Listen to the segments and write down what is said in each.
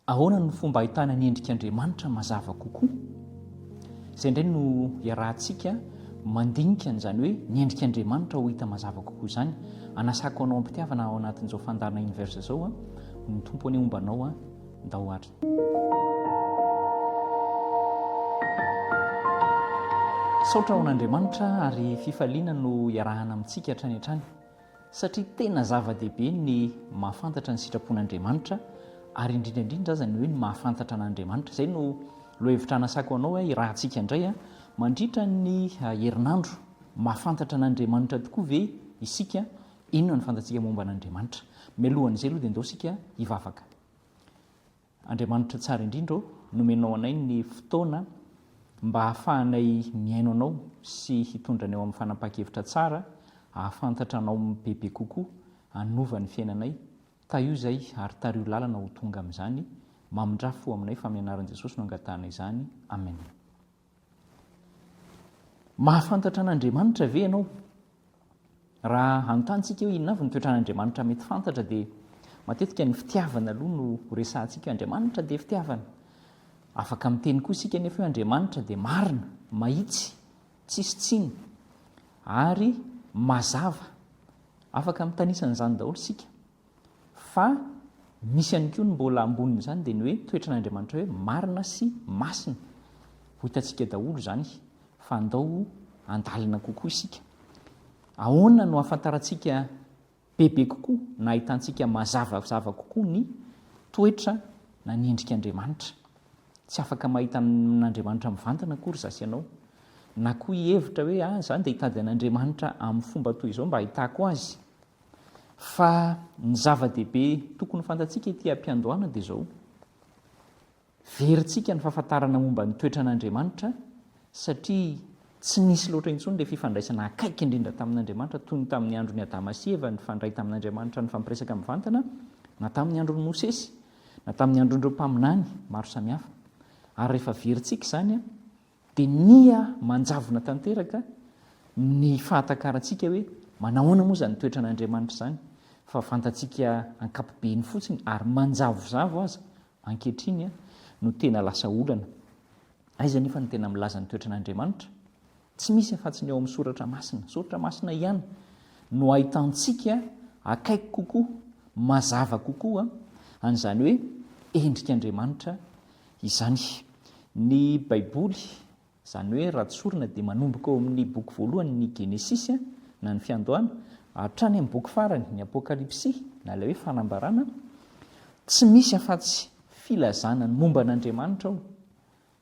Ahoana no fomba ahitana ny endrik'Andriamanitra mazava kokoa? Izay indray no iarahantsika mandinika an'izany hoe ny endrik'Andriamanitra ho hita mazava kokoa izany. Anasako anao am-pitiavana ao anatin'izao fandaharana Universe izao an, ny Tompo anie homba anao an, ndao ary. Misaotra ho an'Andriamanitra ary fifaliana no iarahana amintsika hatrany hatrany. satria tena zava-dehibe ny mahafantatra ny sitrapon'Andriamanitra ary indrindra indrindra aza ny hoe ny mahafantatra an'Andriamanitra. Izay no lohahevitra anasako anao hoe irahantsika indray mandritra ny herinandro, mahafantatra an'Andriamanitra tokoa ve isika? Inona no fantatsika momba an'Andriamanitra? Mialohan'izay aloha dia ndao isika hivavaka. Andriamanitra tsara indrindra ô, nomenao anay ny fotoana mba hahafahanay mihaino Anao sy hitondra anay ho amin'ny fanapahan-kevitra tsara, hahafantatra Anao bebe kokoa, hanova ny fiainanay. Tahio izay ary tariho lalana ho tonga amin'izany. Mamindrà fo aminay fa amin'ny anaran'i Jesosy no angatahanay izany. Amen. Mahafantatra an'Andriamanitra ve ianao? Raha hanontantsika hoe inona avy ny toetran'Andriamanitra mety fantatra dia matetika ny fitiavana aloha no resahantsika, Andriamanitra dia fitiavana. Afaka miteny koa isika anefa hoe Andriamanitra dia marina, mahitsy, tsisy tsiny ary mazava. Afaka mitanisa an'izany daholo isika. Fa misy ihany koa ny mbola ambonin'izany dia ny hoe toetran'Andriamanitra hoe marina sy masina. Ho hitantsika daholo izany fa andao handalina kokoa isika. Ahoana no ahafantarantsika bebe kokoa na ahitantsika mazavazava kokoa ny toetra na ny endrik'Andriamanitra? Tsy afaka mahita an'Andriamanitra mivantana akory za sy ianao. Na koa hihevitra hoe ah, za ndeha hitady an'Andriamanitra amin'ny fomba toy izao mba hahitako azy. Fa ny zava-dehibe tokony ho fantatsika ity am-piandohana dia izao, verintsika ny fahafantarana momba ny toetran'Andriamanitra satria tsy nisy loatra intsony ilay fifandraisana akaiky indrindra tamin'Andriamanitra toy ny tamin'ny andron'i Adama sy Eva nifandray tamin'Andriamanitra nifampiresaka mivantana, na tamin'ny andron'i Mosesy, na tamin'ny andron'ireo mpaminany maro samihafa. Ary rehefa verintsika izany, Dia niha manjavona tanteraka ny fahatakarantsika hoe manahoana moa izany toetran'Andriamanitra izany, fa fantatsika ankapobeny fotsiny, ary manjavozavo aza ankehitriny, no tena lasa olana. Aiza anefa no tena milaza ny toetran'Andriamanitra? Tsy misy afa-tsy ny ao amin'ny Soratra Masina. Soratra Masina ihany no ahitantsika akaiky kokoa, mazava kokoa, an'izany hoe endrik'Andriamanitra Izany. Ny Baiboly, izany hoe raha tsorina dia manomboka ao amin' ny boky voalohany ny Genesisy, na ny Fiandohana, hatrany amin' ny boky farany, ny Apôkalipsy, na ilay hoe Fanambarana, tsy misy afa-tsy filazana ny momba an' Andriamanitra ao,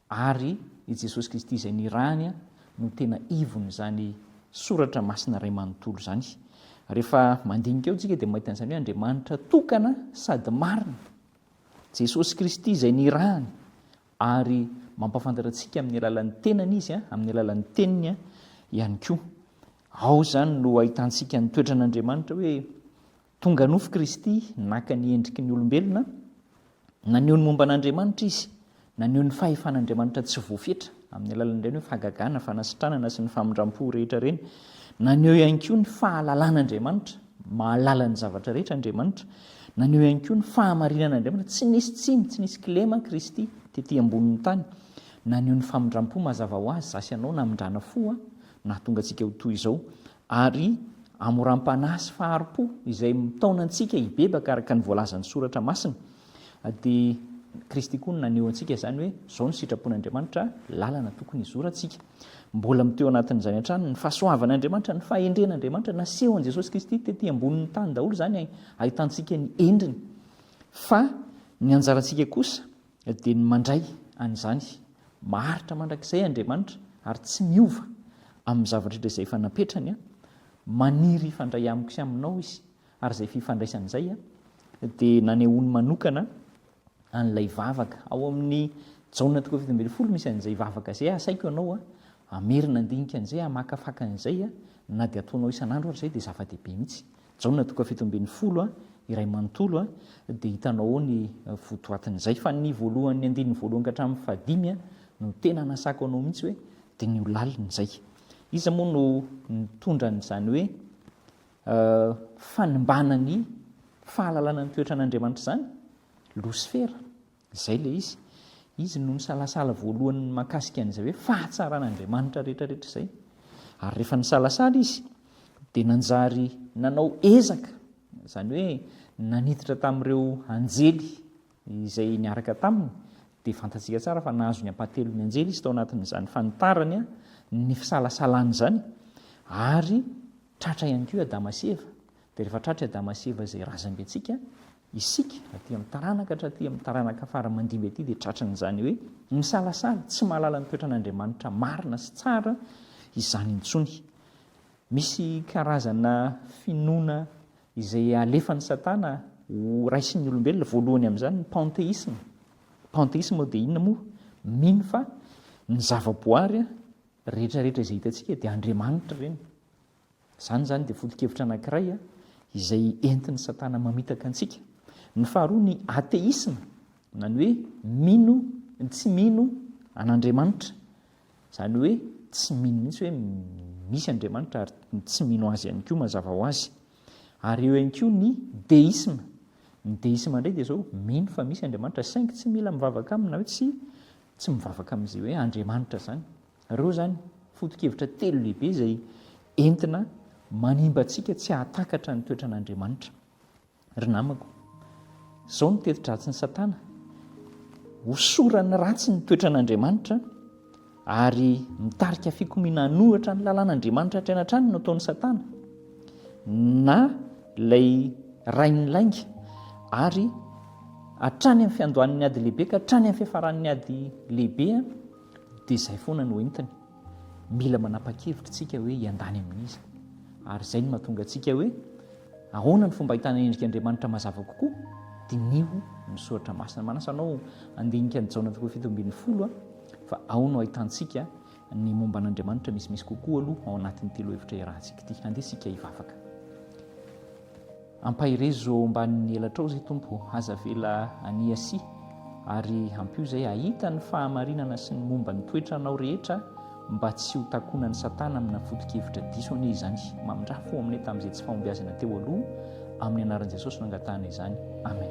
ary i Jesosy Kristy izay nirahany no tena ivon' izany soratra masina iray manontolo izany. Rehefa mandinika eo isika dia mahita an' izany hoe Andriamanitra tokana sady marina. Jesosy Kristy izay nirahany ary mampafantatra antsika amin'ny alalan'ny tenany izy a, amin'ny alalan'ny teniny a, ihany koa. Ao izany no ahitantsika ny toetran'Andriamanitra hoe tonga nofo Kristy, naka ny endriky ny olombelona, naneho ny momba an'Andriamanitra izy Naneho ny fahefan'Andriamanitra tsy voafetra amin'ny alalan'ireny hoe fahagagana, fanasitranana sy ny famindram-po rehetra ireny. Naneho ihany koa ny fahalalan'Andriamanitra, mahalala ny zavatra rehetra Andriamanitra. Naneho ihany koa ny fahamarinan'Andriamanitra, tsy nisy tsiny, tsy nisy kilema Kristy tety ambonin'ny tany. Naneho ny famindram-po mazava ho azy, za sy ianao namindrana fo nahatonga antsika ho toy izao, ary hamoram-panahy sy fahari-po izay mitaona antsika hibebaka araka ny voalazan'ny Soratra Masina. Dia Kristy koa no naneho antsika izany hoe izao no sitrapon'Andriamanitra, lalana tokony hizorantsika. Mbola miteo anatin'izany hatrany ny fahasoavan'Andriamanitra, ny fahendren'Andriamanitra. Nasehon'i Jesosy Kristy tety ambonin'ny tany daholo izany hahitantsika ny endriny. Fa ny anjarantsika kosa dia ny mandray an'izany. Maharitra mandrakizay Andriamanitra ary tsy miova amin'ny zavatra rehetra izay efa napetrany. Maniry hifandray amiko sy aminao Izy Ary izay fifandraisana izay dia nanehoany manokana an'ilay vavaka. Ao amin'ny Jaona toko fahafito ambin'ny folo misy an'izay vavaka izay, Asaiko ianao hamerina handinika an'izay, hamakafaka an'izay, na dia ataonao isan'andro ary izay dia zava-dehibe mihitsy. Jaona toko fahafito ambin'ny folo, iray manontolo, dia hitanao ao ny votoatin'izay. Fa ny voalohan'ny andininy voalohany ka hatramin'ny fahadimy no tena anasako anao mihitsy hoe, Diniho lalina izay. Iza moa no nitondra an'izany hoe. fanimbana ny fahalalana ny toetran' Andriamanitra izany? Losifera, izay ilay izy. Izy no nisalasala voalohany mahakasika an'izay hoe fahatsaran' Andriamanitra rehetra rehetra izay. Ary rehefa nisalasala izy dia nanjary nanao ezaka, izany hoe naniditra tamin'ireo anjely izay niaraka taminy, dia fantatsika tsara fa nahazo ny ampahatelon'ny anjely izy tao anatin'izany fanitarany ny fisalasalany izany, ary Tratra ihany koa i Adama sy Eva. Dia rehefa tratra i Adama sy Eva izay razambentsika, isika aty amin'ny taranaka hatraty amin'ny taranaka fara mandimby aty dia tratran'izany hoe misalasala, tsy mahalala ny toetran'Andriamanitra marina sy tsara izany intsony. Misy karazana finoana izay alefan'i Satana ho raisin'ny olombelona, voalohany amin'izany ny panteisma. Panteisma dia inona moa? Mino fa ny zavaboary rehetra rehetra izay hitantsika dia Andriamanitra ireny. Izany izany dia foto-kevitra anankiray izay entin'i Satana mamitaka antsika. Ny faharoa ny ateisma, na ny hoe mino, tsy mino an'Andriamanitra. Izany hoe tsy mino mihitsy hoe misy Andriamanitra ary tsy mino azy ihany koa mazava ho azy. Ary eo ihany koa ny deisma. Ny deisma indray dia izao, mino fa misy Andriamanitra saingy tsy mila mivavaka aminy na hoe tsy tsy mivavaka amin'izay hoe Andriamanitra izany. Ireo izany foto-kevitra telo lehibe izay entina manimba antsika tsy hahatakatra ny toetran'Andriamanitra. Ry namako, izao no teti-dratsin'i Satana, hosorany ratsy ny toetran'Andriamanitra ary mitarika fikomiana hanohitra ny lalàn'Andriamanitra hatrany hatrany no ataon'i Satana. Na ilay rain'ny lainga, ary hatrany amin'ny fiandohan'ny ady lehibe ka hatrany amin'ny fiafaran'ny ady lehibe dia izay foana no entiny. Mila manapa-kevitra isika hoe hiandany amin'iza, ary izay no mahatonga antsika hoe ahoana ny fomba ahitana endrika Andriamanitra mazava kokoa? Diniho ny soratra masina. Manasa anao handinika ny Jaona toko fito ambin'ny folo fa ao no ahitantsika Ny momba an'Andriamanitra misimisy kokoa aloha ao anatin'ity lohahevitra iarahantsika ity. Andeha isika hivavaka. Ampaherezo eo ambanin'ny elatrao izay Tompo, aza avela aniasia ary ampio izay hahita ny fahamarinana sy ny momba ny toetranao rehetra mba tsy ho takonan'i Satana amina foto-kevitra diso anie izany. Mamindrafo ho aminay tamin'izay tsy fahombiazana teo aloha, amin'ny anaran'i Jesosy no angatahana izany. Amen.